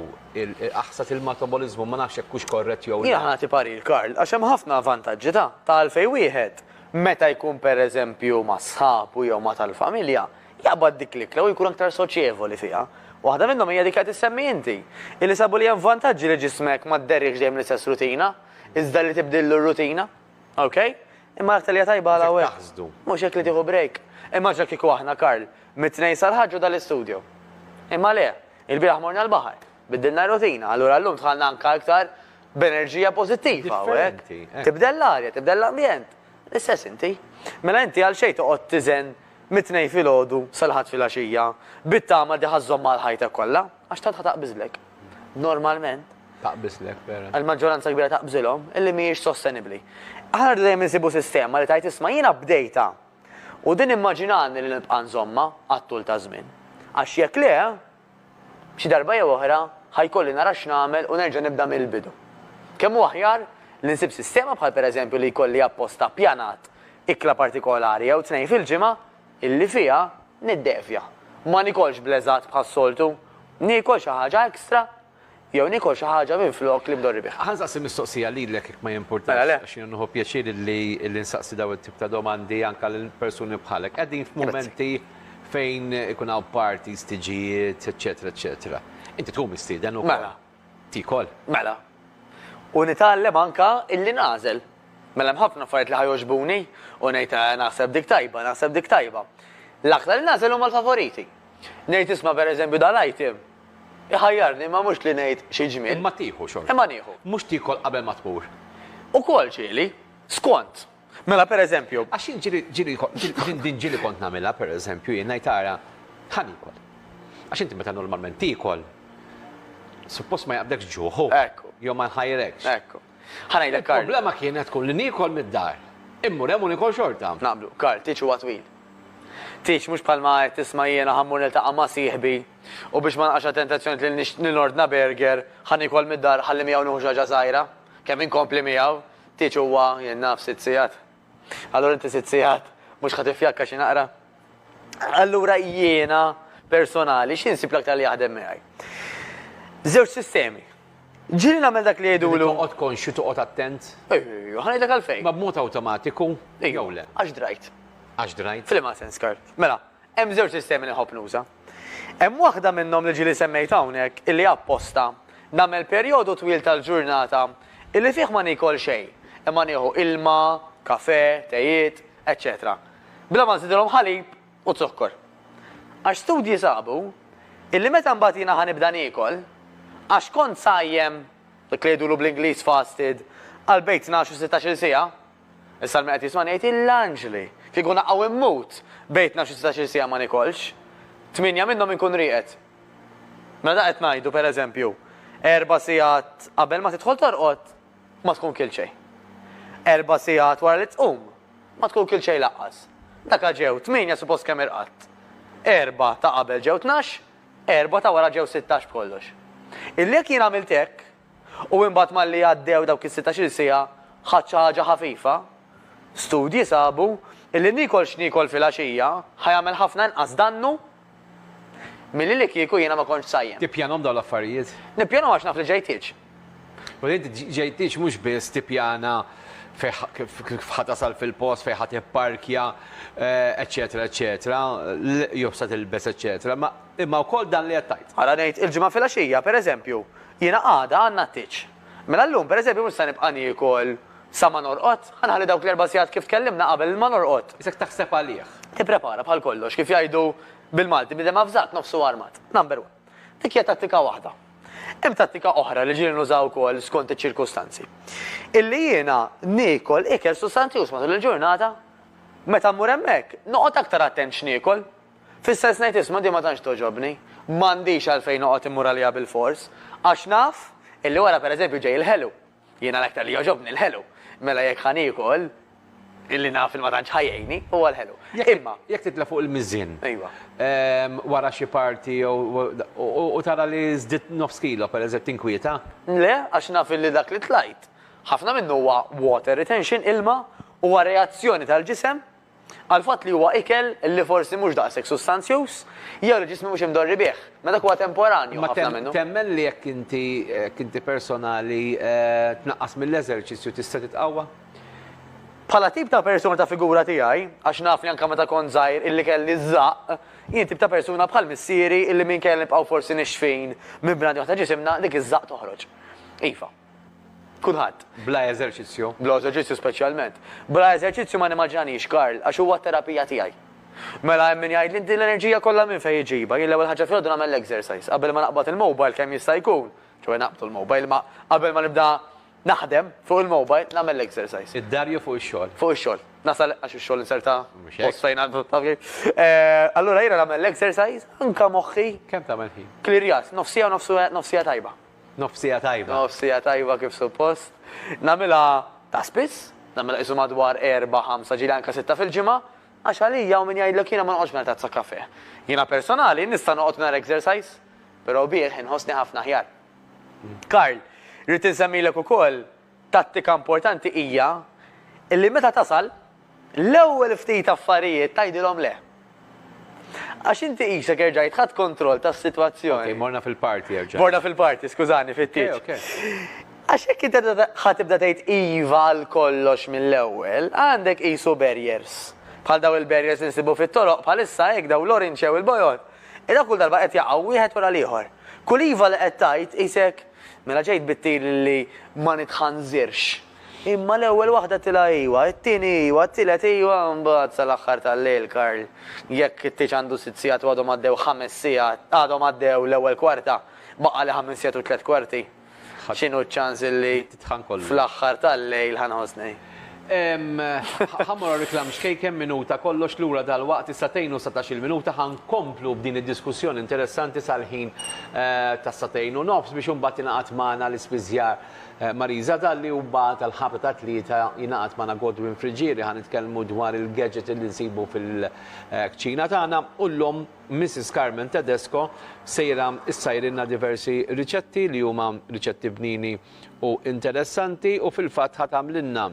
[SPEAKER 1] aħsad il-mataboliżmu, ma nafx jekk hux korrett jew le. Jiena ħa nagħti parir, Karl,
[SPEAKER 2] għax hemm ħafna vantaġġi ta' ta' għalfejn wieħed, meta jkun pereżempju ma' sħabu jew ma' tal-familja, jaqbad dik l-ikla u jkun aktar soċjevoli fiha. Waħda minnhom hija dik li qed issemmi inti, illi sabu li hemm vantaġġi li ġismek ma dderriehx dejjem l-istess rutina, iżda li tibdillu r-rutina. Ok? Imma l-aktar li tajba għal għawek. Mux jek li tiħu break. Imma ġa kiku aħna, Karl, mit-tnejn sal-ħagġu dal-istudio. Imma le, il-biraħ morna l-bahar, biddilna rutina, allura l-lum tħalna anka aktar b'enerġija pozittiva, għawek. Eh. Tibdel l-arja, tibdel l-ambjent. L-istess inti. Mela inti għal xej toqgħod tiżen mit-tnejn fil-ħodu sal-ħadd fil-għaxija, bit-tama diħazzom mal-ħajta kollha. Għax tantha taqbiżlek. Normalment. Taqbiżlek,
[SPEAKER 1] vera. Il-maġġoranza kbira taqbżilhom
[SPEAKER 2] illi mhijiex sostenibbli. Aħna rridu dejjem insibu sistema li tgħid isma' jiena bdejtha u din immaġinani li nibqa' nżommha għat-tul taż-żmien. Għax jekk le, xi darba jew oħra ħa jkolli nara x'nagħmel u nerġa' nibda mill-bidu. Kemm hu aħjar li nsib sistema bħal pereżempju li jkolli apposta ppjanat ikla partikolari jew tnejn fil-ġimgħa Illi fiha niddevja. Ma niekolx bl-eżatt bħas-soltu. Niekol xi ħaġa extra jew niekol xi ħaġa minflok li bdorri biha. Ħa nsaqsi mistoqsija lilek
[SPEAKER 1] jekk ma jimpurtax, għax jiena nieħu pjaċir li nsaqsi dawn it-tip ta' domandi anke lil persuni bħalek. Qegħdin f'mumenti fejn ikun hawn parties, tiġijiet, eċċetera, eċċetera. Inti tkun mistieden ukoll. Mela, Tiekol.
[SPEAKER 2] Mela. U nitgħallem anke illi nagħżel. Mela hemm ħafna affarijiet li ħa jogħġbuni u ngħid eh naħseb dik tajba, naħseb dik tajba. L-aktar li nagħżel huma l-favoriti. Ngħid isma' pereżempju dal-item iħajjarni imma mhux li ngħid xi ġmiel. Imma tieħu xorta. Imma
[SPEAKER 1] nieħu. Mhux tiekol
[SPEAKER 2] qabel ma
[SPEAKER 1] tmur. Ukoll ġieli,
[SPEAKER 2] skont. Mela, per eżempju. Għax jien ġieli,
[SPEAKER 1] ġieli, din, din ġieli kont nagħmilha, per eżempju, jien ngħid ara, ħa niekol. Għax inti meta normalment tiekol, suppost ma jaqbdekx ġuħ, u. Ekku. Jew ma jħajrekx. Ekku. Ħa
[SPEAKER 2] ngħidlek Karl. Il-problema kienet tkun li
[SPEAKER 1] niekol mid-dar. Immur hemm u niekol xorta. Naqblu. Karl, tieġ huwa
[SPEAKER 2] twil. Tieġ mhux bħalma qed tisma' jiena ħa mmur niltaqa' ma' sieħbi u biex ma nqax għat-tentazzjoni li nix, li nordna burger, ħa niekol mid-dar, ħalli miegħu nieħu xi ħaġa żgħira. Kemm inkompli miegħu, Tieġ huwa, jien naf, sitt sigħat. Allura inti sitt sigħat mhux ħa tiffjakka xi naqra? Allura jiena personali xi nsib l-aktar li jaħdem miegħi? Żewġ sistemi. Ġieli nagħmel dak li jgħidulu. Toqgħod konxju, toqgħod
[SPEAKER 1] attent. Ejju, ħa ngħidlek għalfejn.
[SPEAKER 2] Ma b'mod awtomatiku
[SPEAKER 1] jew le. Għax drajt.
[SPEAKER 2] Għax drajt.
[SPEAKER 1] F'liema sens kart.
[SPEAKER 2] Mela, Hemm żewġ sistemi li nħobb nuża. Hemm waħda minnhom li ġieli semmejt hawnhekk illi apposta nagħmel perjodu twil tal-ġurnata illi fih ma niekol xejn imma nieħu ilma, kafè, tejiet, eċċetera bla ma nżidilhom ħalib u zokkor. Għax studji sabu illi meta mbagħad jiena ħa nibda niekol, għax kont sajjem, dak li jgħidulu bl-Ingliż fasted, għal bejn tnax u sittax-il siegħa, Is-Salmi qed jismani jgħid L-anġli! Kieku naqaw immut! Bejt naf xi setax-il siegħa ma nikolx. Tmienja minnhom inkun rieqed. Mela dak qed ngħidu, per eżempju, erba' siegħat qabel ma tidħol torqod, ma tkun kilt xejn. Erba' siegħat wara li tqum, ma tkun kilt xejn laqqas. Daka ġew tmienja suppost kemm irqadt. Erba' ta' qabel ġew tnax, erba' ta' wara ġew sittax b'kollox. Illi jekk jien għamilt hekk, U imbagħad malli għaddew dawk is-sittax-il siegħa ħadt xi ħaġa ħafifa. Studji sabu illi niekol x'niekol filgħaxija ħa jagħmel ħafna inqas dannu milli li kieku jiena ma kontx sajjem. Tippjanhom dawn l-affarijiet?
[SPEAKER 1] Nippjanhom għax naf li
[SPEAKER 2] ġejtieġ. Mela inti
[SPEAKER 1] ġejtieġ mhux biss tippjana kif ħa tasal fil-post, fejn ħa tipparkja, eċċetera eċċetera, jew x'se tilbes eċċetera, imma Imma wkoll dan li qed tgħid. Ara ngħid, il-Ġimgħa filgħaxija,
[SPEAKER 2] per eżempju, jiena għada għandna t-tieġ. Mela llum, per eżempju, mhux se nibqa' niekol sa ma norqod, ħa nħalli dawk l-erba' sigħat kif tkellimna qabel ma norqod. Isek taħseb għalih.
[SPEAKER 1] Tipprepara bħal kollox,
[SPEAKER 2] kif jgħidu bil-Malti, bniedem avżat nofsu armat. Number one. Dik hija tattika waħda. Hemm tattika oħra li ġieli nuża wkoll skont iċ-ċirkustanzi. Illi jiena niekol ikel sustanzjuż matul il-ġurnata. Meta mmur hemmhekk, noqgħod aktar attent x'niekol. Fis-sens ngħid isma' din ma tantx togħġobni, m'għandix għalfejn noqgħod immur għaliha bilfors, għax naf illi wara pereżempju ġej il-ħelu. Jiena l-aktar li jogħġobni l-ħelu. Mela jekk ħa niekol illi naf li ma tantx ħa jgħinni, huwa l-ħelu. Imma. Jekk titla' fuq il-miżien.
[SPEAKER 1] Ejwa.
[SPEAKER 2] Wara
[SPEAKER 1] xi party jew u tara li żdidt nofs kilo pereżempju tinkwieta? Le, għax
[SPEAKER 2] naf illi dak li tlajt, ħafna minnu huwa water retention, ilma, huwa reazzjoni tal-ġisem għall-fatt li huwa ikel li forsi mhux daqshekk sustanzjuż jew li ġismi mhux imdorri bih, ma dak huwa temporanju Imma ħafna minnu. temmen li jekk inti
[SPEAKER 1] jekk inti personali tnaqqas mill-eżerċizzju tista' titqawwa?
[SPEAKER 2] Bħala tip ta' persuna ta' figura tiegħi, għax naf li anke meta kont żgħir illi kelli ż-żaqq, jien tip ta' persuna bħal missieri illi minkejja li nibqgħu forsi nixfin minn bnadi waħda ġisimna, dik iż-żaqq toħroġ. Iva. Kulħadd. Bla eżerċizzju.
[SPEAKER 1] Bla eżerċizzju
[SPEAKER 2] speċjalment. Bla eżerċizzju ma nimmaġinaniex Karl, għax huwa t-terapija tiegħi. Mela hemm min jgħidli din l-enerġija kollha minn fejn iġibha? Jien l-ewwel ħaġa filgħodu nagħmel l-exercise. Qabel ma naqbad il-mobile kemm jista' jkun, ċoe naqbdu l-mobile, imma qabel ma nibda naħdem fuq il-mobile nagħmel l-exercise. Id-dar jew fuq ix-xogħol?
[SPEAKER 1] Fuq ix-xogħol. Nasal
[SPEAKER 2] għax ix-xogħol inserta post fejn għandu taf kif. Allura jiena nagħmel l-exercise anke moħħi. Kemm tagħmel ħin?
[SPEAKER 1] Klirjat, nofsija
[SPEAKER 2] u nofsija tajba. Nofsija tajba.
[SPEAKER 1] Nofsija tajba kif
[SPEAKER 2] suppost. Nagħmilha ta' spiss, nagħmilha qisu madwar erbgħa, ħamsa, ġieli anke sitta fil-ġimgħa, għax għalija hawn min jgħidlek jiena ma noqgħodx mingħajr tazza kafè. Jiena personali nista' noqgħod mingħajr exercise, però bih inħossni ħafna aħjar. Karl, rrid insemmilek ukoll Tattika importanti hija li meta tasal, l-ewwel ftit affarijiet tgħidilhom le. Għax inti qisek erġajt ħadt kontroll tas-sitwazzjoni. Okej, morna fil-party
[SPEAKER 1] erġajna. Morna fil-party, skużani,
[SPEAKER 2] fit-tieġ. Okej, okej. Għax jekk inti ħa tibda tgħid iva għal kollox mill-ewwel, għandek qisu barriers. Bħal dawn il-barriers li nsibu fit-toroq bħalissa hekk dawn l-orange jew il-bojod. Dawn kull darba qed jaqgħu wieħed wara l-ieħor. Kull iva li qed tgħid qisek Mela ġejt bit-tir li ma nitħanżirx. Imma l-ewwel waħda tilha iwa, it-tieni iwa, t-tielet iwa, mbagħad sal-aħħar tal-lejl Karl, jekk it-tieġ għandu sitt sigħat u għadhom għaddew ħames sigħat, għadhom għaddew l-ewwel kwarta, baqgħali ħames sigħat u tliet kwarti, x'inhu ċ-ċans li fl-aħħar tal-lejl ħa nħossni? Ħa mmur
[SPEAKER 1] għar-reklam xkejken, minuta kollox lura dalwaqt is-sagħtejn u satax-il minuta ħa nkomplu b'din id-diskussjoni interessanti sal-ħin tas-sagħtejn u nofs biex imbagħad jingħaqad magħna l-ispiżjar Marisa Dalli u mbagħad għall-ħabta tat-tlieta jingħaqad magħna Godwin Friggieri ħa nitkellmu dwar il-gadget li nsibu fil-kċina tagħna u llum Missis Carmen Tedesco sejra ssajrilna diversi riċetti li huma riċetti bnini u interessanti u fil-fatt ħa tagħmlilna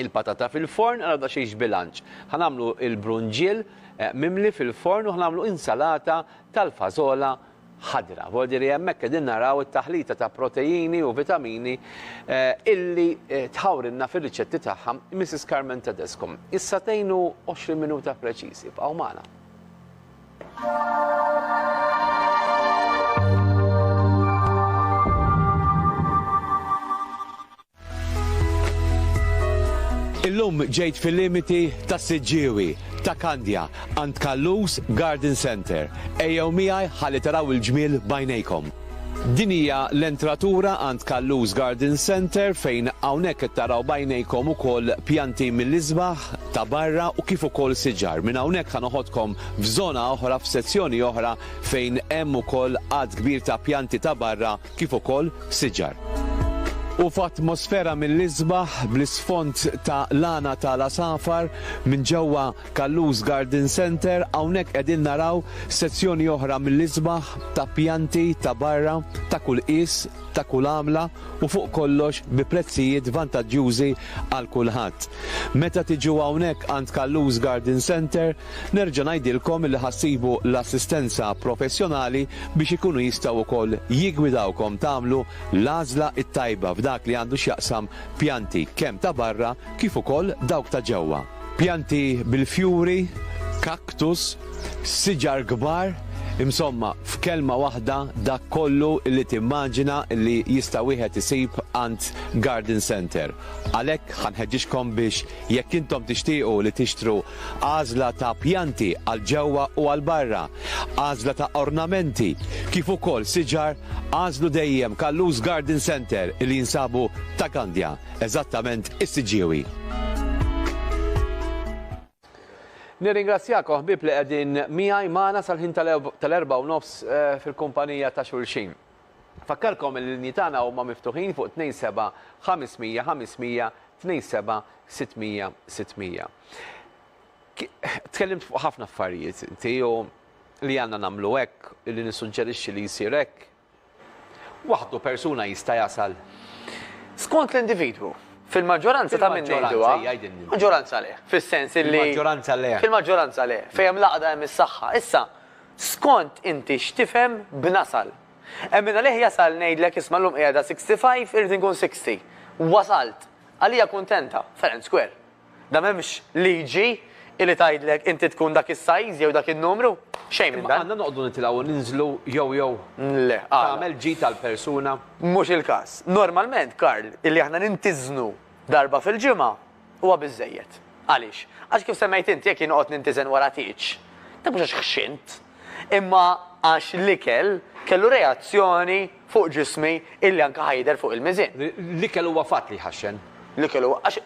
[SPEAKER 1] il-patata fil-forn għal daqsxejn xbilanċ. Ħa nagħmlu il-brunġiel eh, mimli fil-forn u ħa nagħmlu insalata tal-fażola ħadra. Vodiri hemmhekk qegħdin naraw it-taħlita ta' proteini u vitamini eh, illi eh, tħawrinna fir-riċetti tagħha Mrs. Carmen Tedesco. Issa tgħinu 20 minuta preċiżi b'għaw magħna. Illum ġejt fil-limiti ta' Siġġiewi, ta' Kandja, għand Kallus Garden Center. Ejjew miegħi ħalli taraw il-ġmiel b'għajnejkom. Din hija l-entratura għand Callus Garden Centre fejn hawnhekk qed taraw b'għajnejkom ukoll pjanti mill-isbaħ ta' barra u kif ukoll siġar. Minn hawnhekk ħa noħodkom f'żona oħra, f'sezzjoni oħra fejn hemm ukoll għadd kbir ta' pjanti ta' barra kif ukoll siġar. U f'atmosfera mill-isbaħ bl-isfond ta' lana ta' l-għasafar, minn ġewwa Callus Garden Centre, hawnhekk qegħdin naraw sezzjoni oħra mill-isbaħ ta' pjanti ta' barra ta' kull qies, ta' kull għamla u fuq kollox bi prezzijiet vantaġġjużi għal kulħadd. Meta tiġu hawnhekk għand Callus Garden Centre, nerġa' ngħidilkom li ħa ssibu l-assistenza professjonali biex ikunu jistgħu wkoll jiggwidawkom tagħmlu l-għażla t-tajba f'dak li għandu x'jaqsam pjanti kemm ta' barra kif ukoll dawk ta' ġewwa. Pjanti bil-fjuri, cactus, siġar kbar, insomma, f'kelma waħda dak kollu li timmaġina li jista' wieħed isib għand garden centre. Għalhekk ħa nħeġġiġkom biex jekk intom tixtiequ li tixtru għażla ta' pjanti għal ġewwa u għal barra, għażla ta' ornamenti, kif ukoll siġar, għażlu dejjem Kallus Garden Centre li jinsabu ta' Gandja. eżattament is-siġġiewi. Nirringrazzjakom ħbieb li qegħdin miegħi magħna sal-ħin tal-erba' u nofs eh, fil-kumpanija ta' xulxin. Fakkarkom li l-linji tagħna huma miftuħin fuq 27 500 500 27 600 600. Tkellimt fuq ħafna affarijiet inti li għandna nagħmlu hekk, li nissuġġerixxi li jsir hekk, waħdu persuna jista' jasal? Skont
[SPEAKER 2] l-individwu. Fil-maġġoranza ta' min ngħiduha, maġġoranza le, fis-sens li. Fil-maġġoranza le. Fil-maġġoranza
[SPEAKER 1] le, fejn hemm
[SPEAKER 2] l-għaqda hemm is-saħħa. Issa, skont inti x'tifhem b'nasal. Hemm min għalih jasal ngħidlek isma' llum qiegħda 65 irrid inkun 60. Wasalt. Għalija kuntenta. Fair and square. Da m'hemmx liġi illi tgħidlek inti tkun dak is-size jew dak in-numru. Xejn minn dan. Imma għandna noqogħdu nitilgħu u
[SPEAKER 1] ninżlu jew jew Le, għala?
[SPEAKER 2] tagħmel ġid
[SPEAKER 1] għall-persuna? Mhux il-każ.
[SPEAKER 2] Normalment, Karl, illi aħna nintiżnu darba fil-ġimgħa huwa biżżejjed. Għaliex? Għax kif semmejt inti, jekk jien noqgħod nintiżen wara tieġ, dak mhux għax ħxint, imma għax l-ikel kellu reazzjoni fuq ġismi illi anke ħa jidher fuq il-miżien. L-ikel huwa fatt
[SPEAKER 1] li jħaxxen. L-ikel huwa, għax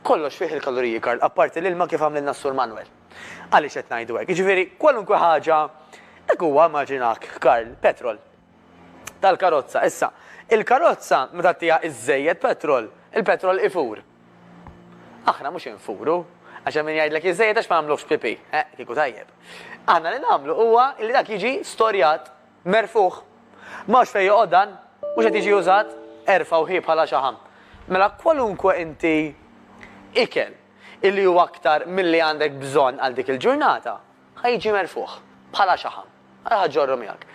[SPEAKER 2] Kollox fih il-kaloriji, Karl, apparti l-ilma kif għamlilna s-Sur Manwel. Għaliex qed ngħidu hekk? Jiġifieri, kwalunkwe ħaġa, hekk huwa, immaġinak, Karl, petrol tal-karozza. Issa, il-karozza ma tagħtiha żżejjed petrol, il-petrol ifur. Aħna mhux infuru, għax hemm min jgħidlek jiżżejjed għax ma nagħmluhx pipì. Eħ, kieku tajjeb. Aħna li nagħmlu huwa li dak jiġi storjat Merfugħ. M'hawnx fejn joqgħod dan. Mhux qed jiġi użat. Erfgħu hi bħala xaħam. Mela kwalunkwe inti ikel illi hu aktar milli għandek bżonn għal dik il-ġurnata ħa jiġi merfugħ bħala xaħam. Ara ħa ġġorru miegħek.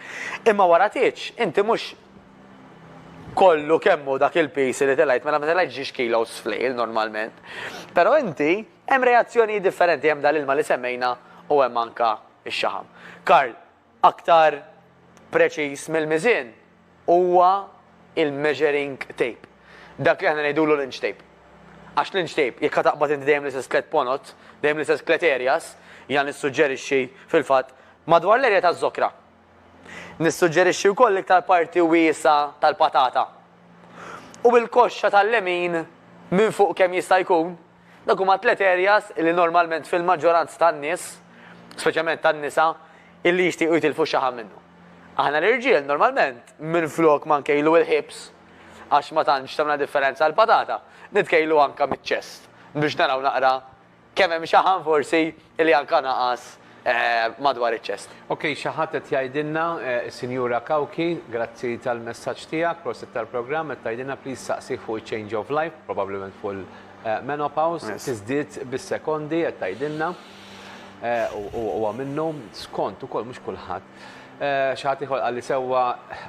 [SPEAKER 2] Imma wara tgħidx, inti mhux kollu kemm hu dak il-piż li telgħet, mela ma telgħetx ġiex kilos fl-lejl normalment. Però inti hemm reazzjonijiet differenti hemm dal-ilma li semmejna u hemm anka x-xaħam. Karl, Aktar preċiż mill-miżien huwa il-measuring tape, dak li aħna ngħidulu l-inch tape. Għax l-inch tape, jekk ħa taqbad inti dejjem l-istess tliet ponot, dejjem l-istess tliet areas, jiena nissuġġerixxi, fil-fatt, madwar l-area taż-żokra. Nissuġġerixxi wkoll l-iktar parti wiesgħa tal-patata. U bil-koxxa tal-lemin minn fuq kemm jista' jkun, Dawk huma t-tliet areas illi normalment fil-maġġoranza tan-nies, speċjalment tan-nisa, illi jixtiequ jitilfu x-xaħam minnu. Aħna l-irġiel normalment minflok ma nkejlu il-hips, għax ma tantx tagħmilna differenza għall-patata, nitkejlu anke miċ-chest biex naraw naqra kemm hemm xaħam forsi Li anka naqas madwar iċ-ċest. Ok xi ħadd qed
[SPEAKER 1] jgħidilna, is-Sinjura Cauchi, grazzi tal-messaġġ tiegħek, prosit tal-programm, qed tgħidilna please saqsih fuq iċ-change of life, probabilment fuq il-menopause, tiżdied bis-sekondi qed tgħidilna. U huwa minnu, skont ukoll mhux kulħadd. Xi ħadd ieħor qalli sewwa,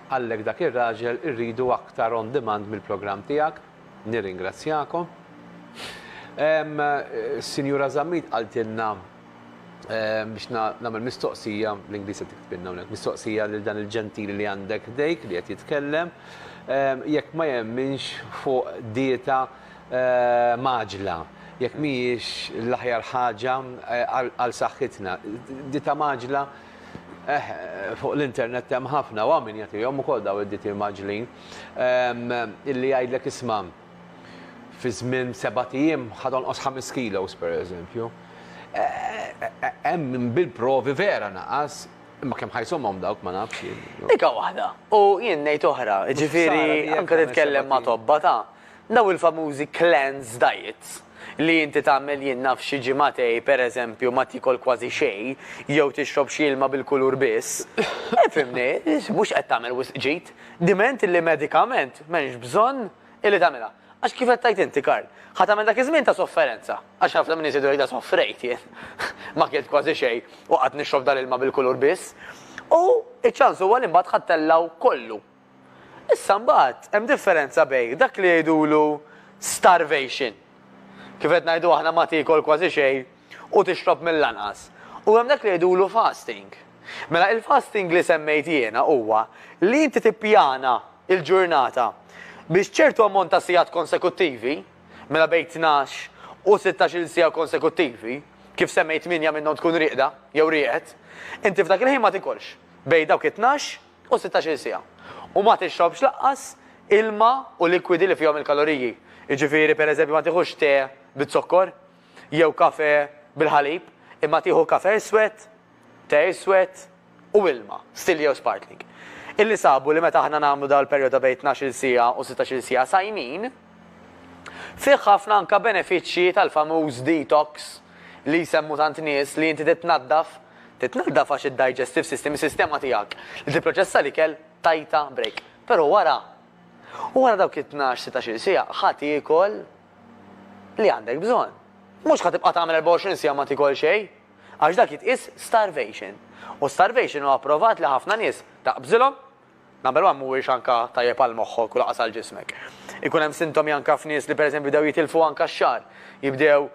[SPEAKER 1] qallek dak ir-raġel irridu aktar on demand mill-programm tiegħek. Nirringrazzjakom. Sinjura Zammit qaltilna biex nagħmel mistoqsija, bl-Ingliż qed tiktbilna hawnhekk, mistoqsija lil dan il-ġentili li għandek ħdejk li qed jitkellem, jekk ma jemminx fuq dieta mgħaġġla, jekk mhijiex l-aħjar ħaġa għal saħħitna. Dieta mgħaġġla, eħ, fuq l-internet hemm ħafna u hawn min jagħtihom ukoll dawn id-dieti mgħaġġlin. illi jgħidlek isma' fi żmien sebat ijiem ħa tonqos ħames kilos pereżempju. Hemm bil-provi vera naqas, imma kemm ħajsomhom dawk ma nafx. Dika waħda,
[SPEAKER 2] u jien ngħid oħra, jiġifieri anke titkellem ma' tobba ta' Dawn il-famużi cleanse diets li inti tagħmel jien naf xi ġimagħtej per eżempju ma tiekol kważi xejn jew tixrob xi ilma bil-kulur biss, ifhimni, mhux qed tagħmel wisq ġid, diment illi medikament m'hemmx bżonn illi tagħmilha. Għax kif qed tgħid inti Karl, ħa tagħmel dak iż-żmien ta' sofferenza, għax ħafna min iżid u jgħidha soffrejt jien, ma kilt kważi xejn u qgħadt nixrob dal-ilma bil-kulur biss, u ċ-ċans huwa li mbagħad ħa ttellgħu kollu. Issa mbagħad hemm differenza bejn dak li jgħidulu starvation, kif qed ngħidu aħna ma tiekol kważi xejn u tixrob mill-anqas, u hemm dak li jgħidulu fasting. Mela il-fasting li semmejt jiena huwa li inti tippjana l-ġurnata biex ċertu ammont ta' sigħat konsekuttivi, mela bejn tnax u sittax-il siegħa konsekuttivi, kif semmejt tmienja minnhom tkun rieqda jew rieqed, inti f'dak il-ħin ma tikolx bejn dawk it-tnax u sittax-il siegħa, u ma tixrobx lanqas ilma u likwidi li fihom il-kaloriji, jiġifieri pereżempju ma tieħux te biz-zokkor jew kafè bil-ħalib, imma tieħu kafè iswed, te iswed u ilma, stilli jew sparkling. Illi sabu li meta aħna nagħmlu dan il-perjodu ta' bejn tnax-il siegħa u sittax-il siegħa sajmin, fih ħafna anke benefiċċji tal-famuż detox li jsemmu tant nies li inti titnaddaf, Titnaddaf għax id-digestive system, is-sistema tiegħek li tipproċessa l-ikel, tajtha break. Però wara, u wara dawk it-tnax, sittax-il siegħa, ħa tiekol li għandek bżonn. Mhux ħa tibqa' tagħmel 24 siegħa ma tiekol xejn, għax dak jitqies starvation. U starvation huwa pprovat li ħafna nies taqbżilhom Number one mhuwiex anka tajjeb għal moħħok u lanqas għal ġismek. Ikun hemm sintomi anka f'nies li pereżempju bdew jitilfu anka x-xagħar, jibdew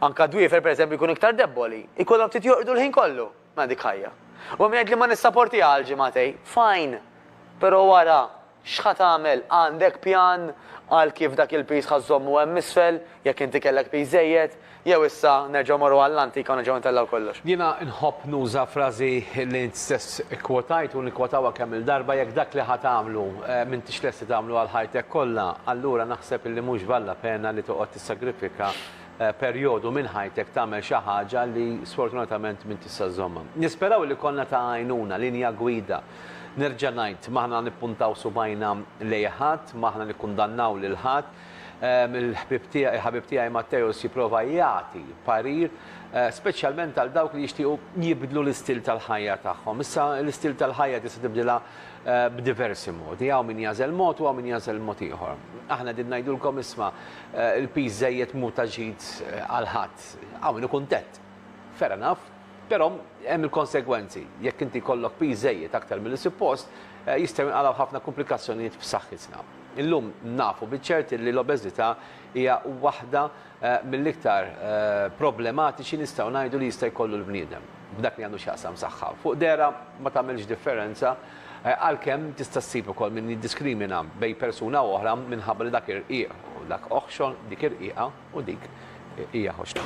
[SPEAKER 2] anka dwiefer pereżempju jkunu iktar debboli, ikollhom ftit jorqdu l-ħin kollu. Mela dik ħajja. U hemm min jgħidli ma nissaportiha għal ġimagħtej. Fine! Però wara, x'ħa tagħmel? Għandek pjan għal kif dak il-piż ħa żżommu hemm isfel, jekk inti kellek piż żejjed? Jew issa nerġgħu morru għall-antika u nerġgħu intellgħu kollox? Jiena nħobb
[SPEAKER 1] nuża frażi li int stess ikkwotajt u nikkwotawha kemm-il darba, jekk dak li ħa tagħmlu m'intix lest li tagħmlu għal ħajtek kollha, allura naħseb li mhux valla pena li toqgħod tissagrifika perjodu minn ħajtek tagħmel xi ħaġa li sfortunatament m'int tista' żżommha. Nisperaw li konna ta' għajnuna, linja gwida. Nerġa' ngħid, m'aħna nippuntaw subgħajna lejn ħadd, m'aħna nikkundannaw lil ħadd, Il-ħbieb tiegħi, il-ħabib tiegħi Matteus jipprova jagħti parir, speċjalment għal dawk li jixtiequ jibdlu l-istil tal-ħajja tagħhom. Issa, l-istil tal-ħajja tista' tibdilha b'diversi modi. Hawn min jagħżel mod u hawn min jagħżel mod ieħor. Aħna qegħdin ngħidulkom isma' l-piż żejjed mhu ta' ġid għal ħadd. Hawn min hu kuntent. Fair enough. Però hemm il-konsegwenzi. Jekk inti jkollok piż żejjed aktar milli suppost, jistgħu jinqalgħu ħafna kumplikazzjonijiet f'saħħitna. Illum nafu biċ-ċert li l-obeżità hija waħda mill-iktar problematiċi nistgħu ngħidu li jista' jkollu l-bniedem f'dak li għandu x'jaqsam saħħa. Fuq dehra ma tagħmilx differenza, għalkemm tista' ssib ukoll min jiddiskrimina bejn persuna u oħra minħabba li dak irqiq u dak oħxon, dik irqiqa u dik hija ħoxna.